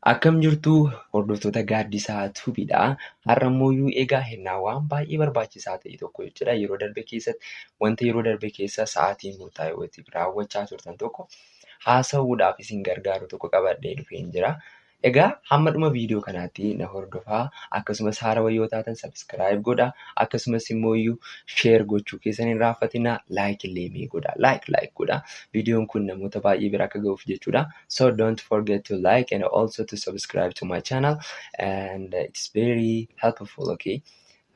Akkam jirtuu hordoftoota gaaddisaa tuubidha. Har'a immoo egaa hennaa waan baay'ee barbaachisaa ta'e tokko jechuudha. Yeroo darbe keessatti wanta yeroo darbe keessa sa'aatii murtaa'e wajjin raawwachaa turtan tokko haasa'uudhaaf isin gargaaru tokko qabadhee dhufeen jira. Egaa hamma dhuma viidiyoo kanaatti na hordofaa akkasumas haarawwa yoo taatan sabiskiraayib godhaa akkasumas immoo iyyuu sheer gochuu keessan hin raaffatinaa laayik illee mee godhaa laayik laayik godhaa viidiyoon kun namoota baay'ee bira akka ga'uuf jechuudha. so don't forget to like and also to subscribe to my channel and uh, it's very helpful okay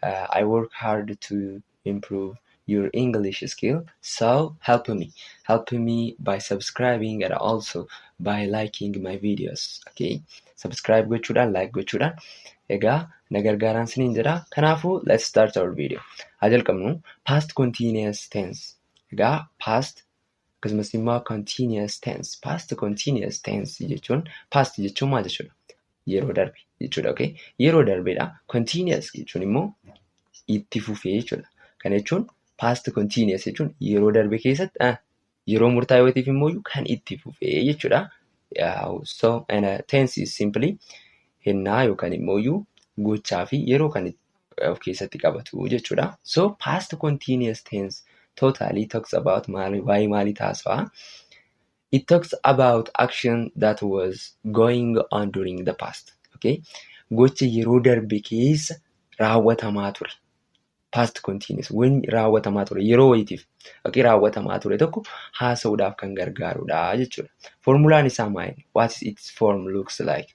uh, i work hard to improve your english skill so help me help me by subscribing and also by liking my videos okay subscribe gochuudhaan like gochuudhaan egaa na gargaaraan siniin jedha kanaafuu let's start our video haa jalqabnu past continuous tense egaa past Akkasumas immoo continuous tense, past continuous tense jechuun past jechuun maal jechuudha? Yeroo darbe jechuudha. Okay? Yeroo darbedha. Continuous jechuun immoo itti fufee jechuudha. Kana jechuun past continuous jechuun yeroo darbe keessatti ah, yeroo murtaa'eetiif immoo kan itti fufee jechuudha. Yeah, so and, uh, tense is simply hennaa yookaan immoo gochaa fi yeroo kan itti of keessatti qabatu jechuudha. So past continuous tense totally talks about maali waa'ee maalii taasisaa? It talks about action that was going on during the past. Okay? Gocha yeroo darbe keessa raawwatamaa ture. Past continuous when raawwatamaa ture yeroo wayitiif okay, raawwatamaa ture tokko haasa'uudhaaf kan gargaarudha jechuudha. Foormulaan isaa maali? What is its form looks like?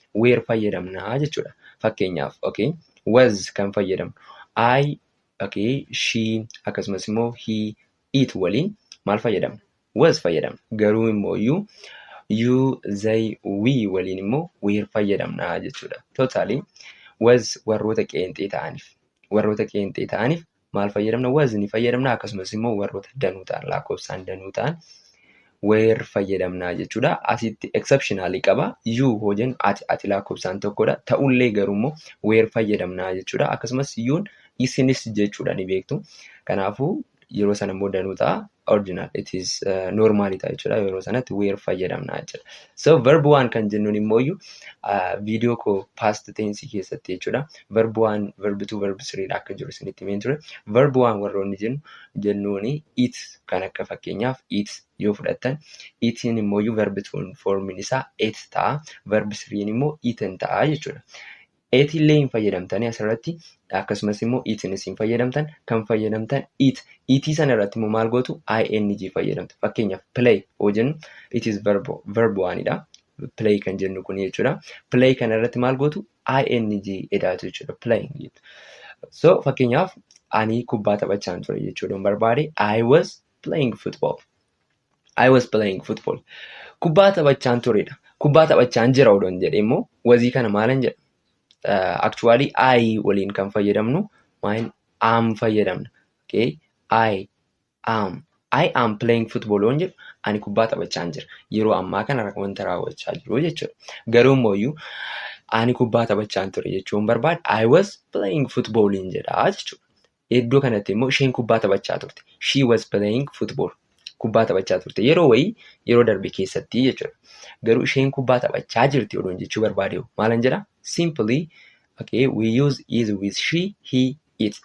where fayyadamna jechuudha. Fakkeenyaaf okay, was kan fayyadamnu I okay, she akkasumas immoo he it waliin maal fayyadamna? Was fayyadamna. Garuu immoo you you they we waliin immoo where fayyadamna jechuudha. Totally was warroota qeenxee ta'aniif warroota qeenxee ta'aniif maal fayyadamna wazni fayyadamna akkasumas immoo warroota danuu ta'an lakkoofsaan danuu ta'an where fayyadamna jechuudha. Asitti exceptionally qaba. You hoo jennu ati ati lakkoofsaan tokkodha. Ta'ullee garuu immoo where fayyadamna jechuudha. Akkasumas yuun isinis jechuudha ni beektu. Kanaafuu yeroo sana immoo danuu ta'a. Original it is uh, normal ta'a jechuudha. Yeroo sanatti where fayyadamna jechuudha. So verb waan kan jennuun immoo viidiyoo koo past tense keessatti jechuudha. Verb waan verb two verb three dha akka jiru isinitti himeen ture. Verb waan warroonni jennu jennuun it kan akka fakkeenyaaf it yoo fudhattan itiin immoo verb tuun formin isaa et ta'a. Verb three'n immoo iten ta'a jechuudha. At illee hin fayyadamtanii asirratti akkasumas immoo itinis hin fayyadamtan kan fayyadamtan it itii sana irratti immoo maal gootu ing fayyadamtu fakkeenyaaf play yoo jennu it is verbo verbo anidha play kan jennu kun jechuudha play kana irratti maal gootu ing edaatu jechuudha playing jettu so fakkeenyaaf ani kubbaa taphachaan ture jechuudha hin barbaade I was playing football. I was playing football. Kubbaa taphachaan turedha. Kubbaa taphachaan jira odoon jedhe immoo wazii kana maalan jedha. Uh, actually I waliin kan fayyadamnu mine am fayyadamna. Okay? I am. I am playing football oon jedhu ani kubbaa taphachaan jira. Yeroo ammaa kana wanta raawwachaa jiru jechuudha. Garuu immoo iyyuu ani kubbaa taphachaan ture jechuun barbaade I was playing football in jedha jechuudha. Iddoo kanatti immoo isheen kubbaa taphachaa turte. She was playing football. Kubbaa taphachaa turte. Yeroo wayii yeroo darbe keessatti jechuudha. Garuu isheen kubbaa taphachaa jirti odoon jechuu barbaade maalan jedha? Simply okay, we use is with she, he, it.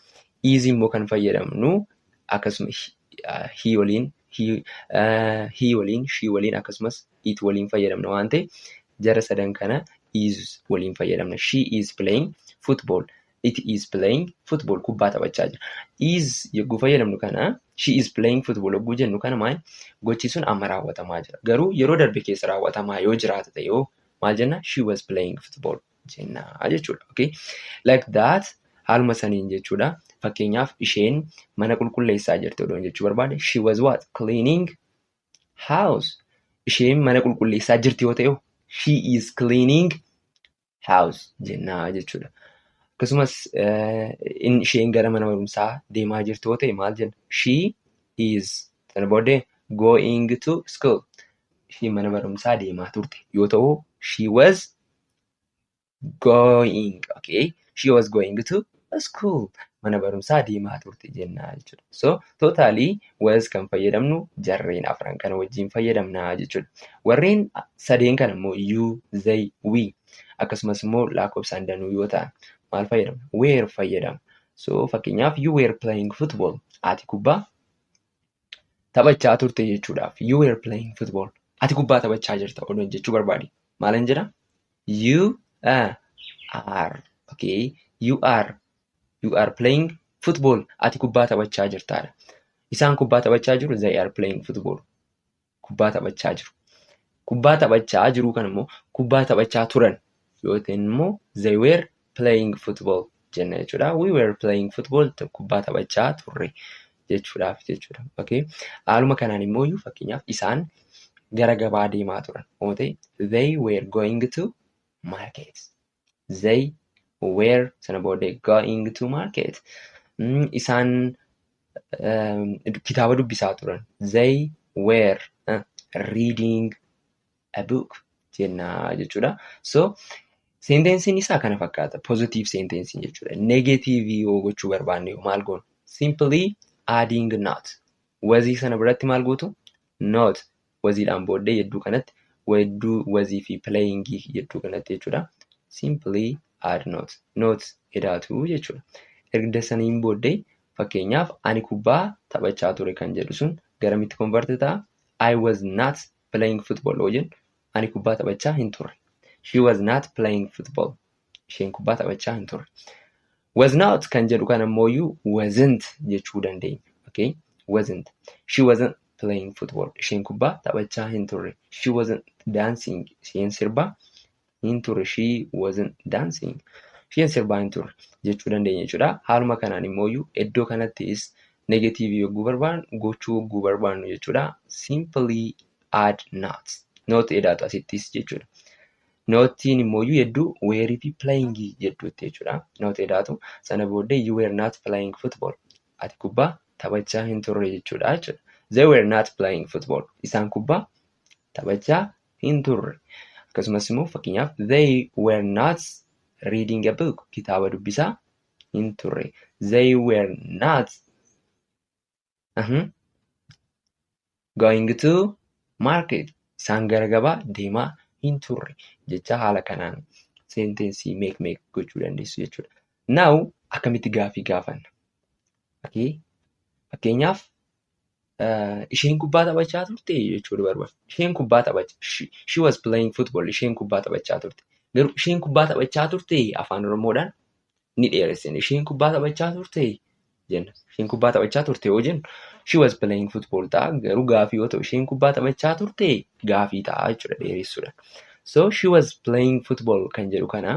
Is immoo kan fayyadamnu akkasuma he waliin he waliin she waliin akkasumas it waliin fayyadamna waan ta'e jara sadan kana is waliin fayyadamna. She is playing football. it is playing football kubbaa taphachaa jira. is yogguu fayyadamnu kana she is playing football yogguu jennu kana maal gochi sun amma raawwatamaa jira. Garuu yeroo darbe keessa raawwatamaa yoo jiraate ta'e yoo maal jenna she was playing football jenna jechuudha. Okay? Like that haaluma saniin jechuudha. Fakkeenyaaf isheen mana qulqulleessaa jirti odoo jechuu barbaade she was what cleaning house isheen mana qulqulleessaa jirti yoo ta'e she is cleaning house jennaa jechuudha. Akkasumas isheen gara mana barumsaa deemaa jirtu yoo ta'e maal jenna? She is sana booddee going to school. Isheen mana barumsaa deemaa turte yoo ta'u she was going okay she was going to school mana barumsaa deemaa turte jennaa jechuudha. So totally was kan fayyadamnu jarreen afran kana wajjin fayyadamna jechuudha. Warreen sadeen kana immoo you, they, we akkasumas immoo lakkoofsaan danuu yoo ta'an maal fayyadamna? Were fayyadamna. So fakkeenyaaf you were playing football ati kubbaa taphachaa turte jechuudhaaf you were playing football ati kubbaa taphachaa jirta odoon jechuu barbaade maalan jedha? You uh, are okay. You are you are playing football. Ati kubbaa taphachaa jirtaadha. Isaan kubbaa taphachaa jiru. They are playing football. Kubbaa taphachaa jiru. Kubbaa taphachaa jiruu kan immoo kubbaa taphachaa turan yoo ta'in immoo they were playing football jenna jechuudha. We were playing football kubbaa taphachaa turre jechuudhaaf jechuudha. Okay. Haaluma kanaan immoo iyyuu fakkeenyaaf isaan gara gabaa deemaa turan. Yoo ta'e they were going to market. They were sana booda going to market. Mm, Isaan um, kitaaba dubbisaa turan. They were uh, reading a book jenna jechuudha. So seentensiin isaa kana fakkaata. Positive seentensiin jechuudha. Negatiivii yoo gochuu barbaanne yoo maal goonu? Simply adding not. Wazii sana biratti maal gootu? Not. Waziidhaan booddee yedduu kanatti wedduu wazii fi playingii yedduu kanatti jechuudha. Simply add not. Not edaatu jechuudha. Erga saniin booddee fakkeenyaaf ani kubbaa taphachaa ture kan jedhu sun garamitti convert ta'a? I was not playing football yoo jennu ani kubbaa taphachaa hin turre. She was not playing football. Isheen kubbaa taphachaa hin turre. Was not kan jedhu kan ammooyyuu wasn't jechuu dandeenya. Okay? Wasn't. She wasn't playing football. Isheen kubbaa taphachaa hin turre. She wasn't dancing. Isheen sirbaa hin turre she wasn't dancing isheen sirbaa hin turre jechuu dandeenya jechuudha haaluma kanaan immoo iyyuu iddoo kanattis negatiivii yogguu barbaannu gochuu yogguu barbaannu jechuudha simply add not not edaatu asittis jechuudha nootiin immoo iyyuu yedduu weerii fi playing jedhuutti jechuudha not edaatu sana booddee you were not playing football ati kubbaa taphachaa hin turre jechuudha jechuudha they were not playing football isaan kubbaa taphachaa hin turre. Akkasumas immoo fakkeenyaaf they were not reading a book kitaaba dubbisaa hin turre. They were not uh-huh, going to market isaan gara gabaa deemaa hin turre jecha haala kanaan senteensii meek meek gochuu dandeessu jechuudha. Now akkamitti gaafii gaafanna? Okay. Fakkeenyaaf Eh, isheen kubbaa taphachaa turte jechuu barbaada. Isheen kubbaa taphachaa she, she was playing football isheen kubbaa taphachaa turte. Garuu isheen kubbaa taphachaa turte afaan Oromoodhaan ni dheeressine. Isheen kubbaa taphachaa turte jenna. Isheen kubbaa taphachaa turte yoo jennu she was playing football ta'a. Garuu gaafii yoo ta'u isheen kubbaa taphachaa turte gaafii ta'a jechuudha dheeressuudha. So she was playing football kan jedhu kana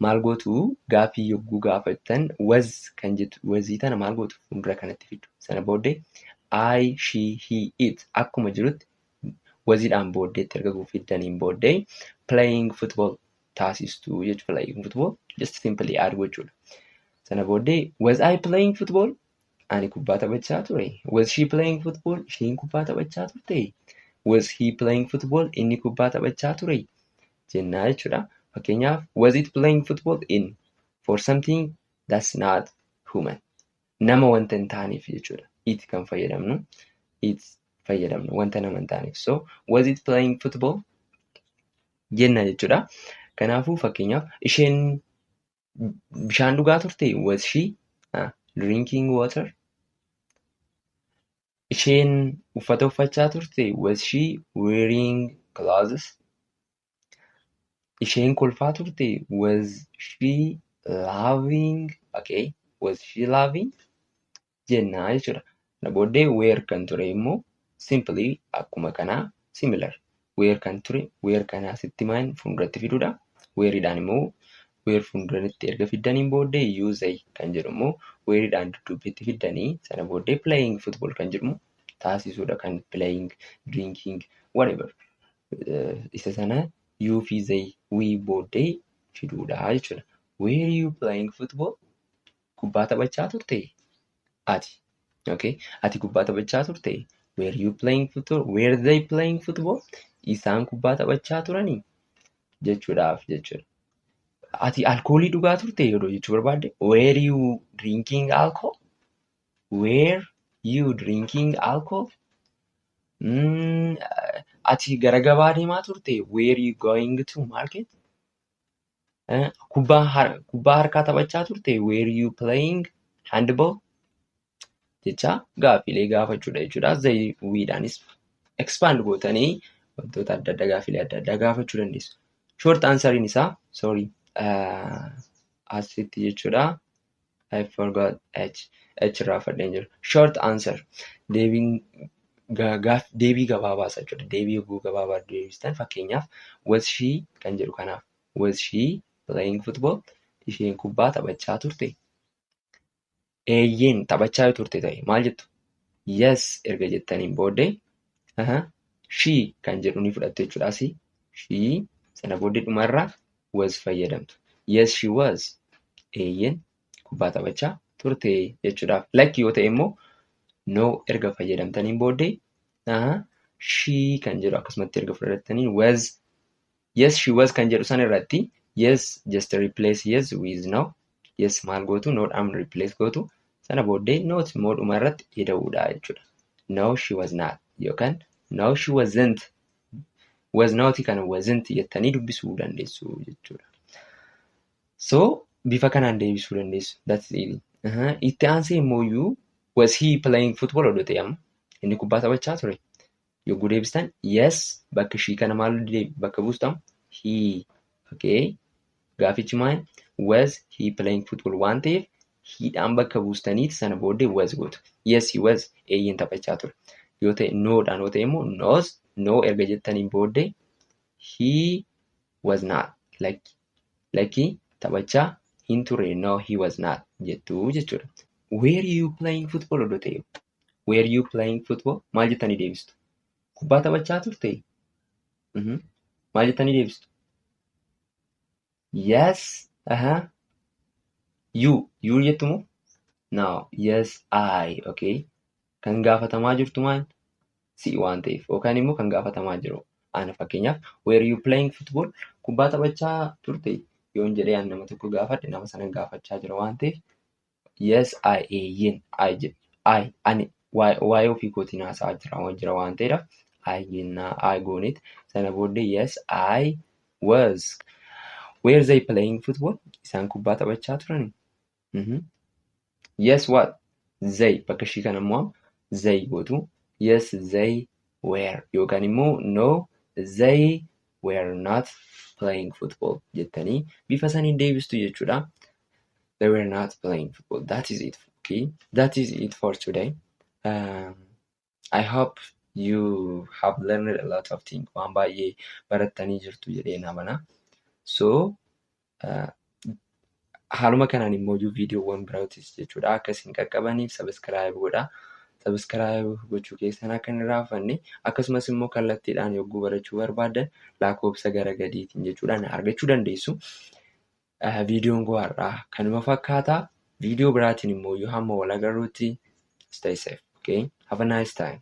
Maal gootu gaaffii yogguu gaafattan was kan jettu wazii tana maal gootu fuuldura kanatti fiddu. Sana booddee I, she, he, it akkuma jirutti waziidhaan booddeetti erga gu- fiddaniin booddee playing football taasistu jechuudha. Playing football just simply add gochuudha. Sana booddee was I playing football? Ani kubbaa taphachaa ture. Was she playing football? Isheen kubbaa taphachaa turte. Was he playing football? Inni kubbaa taphachaa ture. jennaa jechuudha. Fakkeenyaaf was it playing football in for something that's not human. Nama wanta hin taaneef jechuudha. It kan fayyadamnu. It fayyadamna wanta nama hin taaneef. So was it playing football jenna jechuudha. Kanaafuu fakkeenyaaf isheen bishaan dhugaa turte was she uh, drinking water isheen uffata uffachaa turte was she wearing clothes isheen kolfaa turte was she laughing okay was she laughing jenna jechuudha. Kana booddee where kan ture immoo simply akkuma kanaa similar where kan ture where kana asitti maan fuulduratti fiduudha. Where dhaan immoo where fuulduratti erga fiddaniin booddee use a kan jedhu immoo where dhaan dudduubbiitti fiddanii sana booddee playing football kan jedhu taasisuudha kan playing drinking whatever Eh, isa sana you fi they we booddee fiduudha jechuudha. Where you playing football? Kubbaa taphachaa turte? Ati. Okay. Ati kubbaa taphachaa turte? Were you playing football? Were they playing football? Isaan kubbaa taphachaa turanii? Jechuudhaaf jechuudha. Ati alkoolii dhugaa turte yeroo jechuu barbaadde? Were you drinking alcohol? Were you drinking alcohol? Mm, ati gara gabaa deemaa turte? Were you going to market? Eh, Kubbaa har- kubbaa harkaa taphachaa turte were you playing handball jecha gaaffilee gaafachuudha jechuudha. Zayiwiidhaanis expand gootanii wantoota adda addaa gaaffilee adda addaa gaafachuu dandeessu. Short answeriin isaa sorry eh, asitti jechuudha. I forgot H. H irraafadheen jira. Short answer. Deebiin ga- gaaf- deebii gabaabaa isa jechuudha. Deebii oguu gabaabaa deebistan fakkeenyaaf was she kan jedhu kanaaf was she playing football isheen kubbaa taphachaa turte. Eeyyeen taphachaa yoo turte ta'e maal jettu? Yes erga jettaniin booddee aha, she kan jedhu ni fudhattu jechuudha asii. She sana booddee dhumarraa was fayyadamtu. Yes she was. Eeyyeen kubbaa taphachaa turte jechuudhaaf. Lakki yoo ta'e immoo no erga fayyadamtaniin booddee aha she kan jedhu akkasumatti erga fudhattaniin was yes she was kan jedhu san irratti yes just replace yes with no yes maal gootu no dhaan replace gootu sana booddee not immoo dhuma irratti ida'uudha jechuudha. No she was not yookaan no she wasn't was not kana wasn't jettanii dubbisuu dandeessu jechuudha. So bifa kanaan deebisuu dandeessu. That's it. Aha, Itti aansee immoo iyyuu was he playing football odoo ta'e amma inni kubbaa taphachaa ture. Yogguu deebistan yes bakka ishii kana maal dee- bakka buustan he. Okay. Gaafichi maal? Was he playing football waan ta'eef hiidhaan bakka buustaniiti sana booddee was gootu. Yes he was eeyyeen taphachaa ture. Yoo ta'e no dhaan yoo ta'e immoo nos no erga jettaniin booddee he was not lakki lakki taphachaa hin ture no he was not jettu jechuudha. Were you playing football odoo ta'e were you playing football maal jettanii deebistu? Kubbaa taphachaa turte? Mhm. Maal jettanii deebistu? Yes. Aha. You. You jettu moo? No. Yes, I. Okay. Kan gaafatamaa jirtu maal? Si'i waan ta'eef. Yookaan immoo kan gaafatamaa jiru. Ana fakkeenyaaf, were you playing football? Kubbaa taphachaa turte? Yoon jedhee an nama tokko gaafadhe, nama sanan gaafachaa jira waan ta'eef, Yes, I, eeyyen, I jedhe. I, ani waa'ee waa'ee ofii kootiin haasa'aa jira waan jira waan ta'eedhaaf I jennaa I gooneet sana booddee yes, I was. Were they playing football? Isaan kubbaa taphachaa turani. Mhm. Yes, what? They bakka ishii kana immoo amma they gootu. Yes, they were yookaan immoo no, they We are not playing football jettanii bifa saniin deebistu jechuudha. They were not playing football. That is it. Okay. That is it for today. Um, I hope you have learned a lot of things. Waan baay'ee barattanii jirtu jedhee namana. So, Haaluma kanaan immoo viidiyoowwan birootis jechuudha akka isin qaqqabaniif sabiskiraayib godha. Sabiskiraayib gochuu keessan akka hin irraanfanne akkasumas immoo kallattiidhaan yogguu barachuu barbaaddan lakkoofsa gara gadiitiin jechuudha na argachuu dandeessu. Viidiyoon koo har'aa kanuma fakkaata. Viidiyoo biraatiin immoo yoo hamma wal agarruutti stay safe. Okay? Have a nice time.